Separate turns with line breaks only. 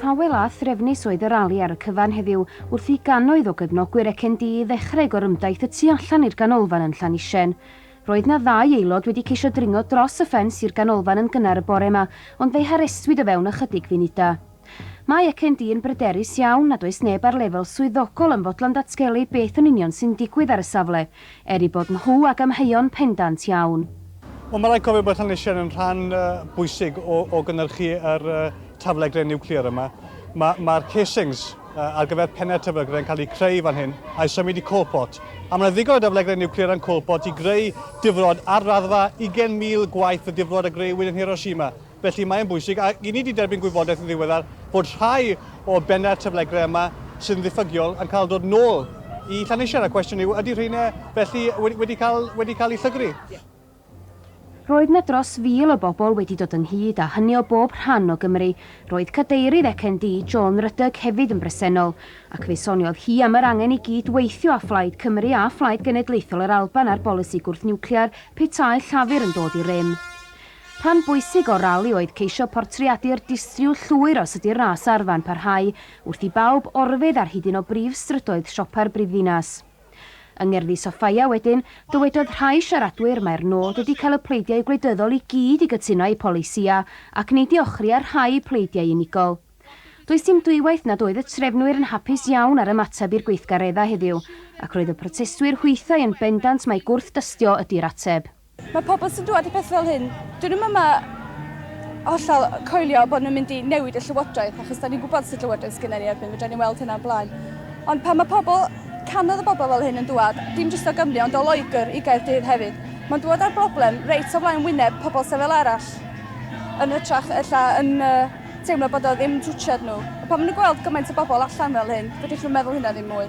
Tawel a threfnus oedd y rali ar y cyfan heddiw wrth i gannoedd o gefnogwyr ECND ddechrau gorymdaith y tu allan i'r ganolfan yn Llanisien. Roedd 'na ddau aelod wedi ceisio dringo dros y ffens i'r ganolfan yn gynnar y bore 'ma ond fe'i harestwyd o fewn ychydig funudau. Mae ECND yn bryderus iawn nad oes neb ar lefel swyddogol yn fodlon datgelu beth yn union sy'n digwydd ar y safle, Er eu bod nhw ag amheuon pendant iawn. Wel, mae rhaid cofio
bod Llanllysiau'n yn rhan bwysig o, o gynnyrchu yr taflegryn niwclear yma. Mae'r ma casings ar gyfer pennau'r taflegryn yn cael eu creu fan hyn a'i symud i Coalport. A mae yna ddigon o daflegryn niwclear yn Coalport i greu difrod ar raddfa 20,000 gwaith y difrod a greuwyd yn Hiroshima. Felly mae'n bwysig, a i ni wedi derbyn gwybodaeth yn ddiweddar, fod rhai o bennau'r taflegrau yma sy'n ddiffygiol yn cael dod nôl i Llanisher, a cwestiwn yw, ydy rheina felly wedi, wedi, cael, wedi cael eu llygru?
Roedd 'na dros fil o bobl wedi dod ynghyd, a hynny o bob rhan o Gymru. Roedd Cadeirydd ECND, Joan Ruddock, hefyd yn bresennol, ac fe soniodd hi am yr angen i gyd-weithio â Phlaid Cymru a Phlaid Genedlaethol yr Alban ar bolisi gwrth-niwclear petai Llafur yn dod i rym. Rhan bwysig o'r rali oedd ceisio portreadu'r distryw llwyr os ydy'r ras arfa'n parhau, wrth i bawb orfeydd ar hyd un o brif strydoedd siopa'r brifddinas. Yng ngerddi Sofia wedyn, dywedodd rhai siaradwyr mai'r nod ydi cael y pleidiau gwleidyddol i gyd i gytuno â'u polisïau ac nid i ochri ar rhai pleidiau unigol. Does dim dwywaith nad oedd y trefnwyr yn hapus iawn â'r ymateb i'r gweithgareddau heddiw, ac roedd y protestwyr hwythau yn bendant mai gwrth-dystio ydi'r ateb. Mae pobl sy'n dŵad
i peth fel hyn, dyn nhw'n yma hollol coelio bod nhw'n mynd i newid y llywodraeth, achos da ni'n gwybod sut llywodraeth sgynna ni erbyn, fe da ni'n weld hynna'n blaen. Ond pan mae pobl, canodd y bobl fel hyn yn dŵad, dim jyst o Gymru, ond o Loegr i Gaerdydd hefyd, mae'n dŵad â'r broblem reit o flaen wyneb pobl sefel arall, yn hytrach ella yn uh, teimlo bod o ddim twtsiad nhw. Pan maen nhw'n gweld gymaint o bobl allan fel hyn, fedrwch nhw'n meddwl hynna ddim mwy.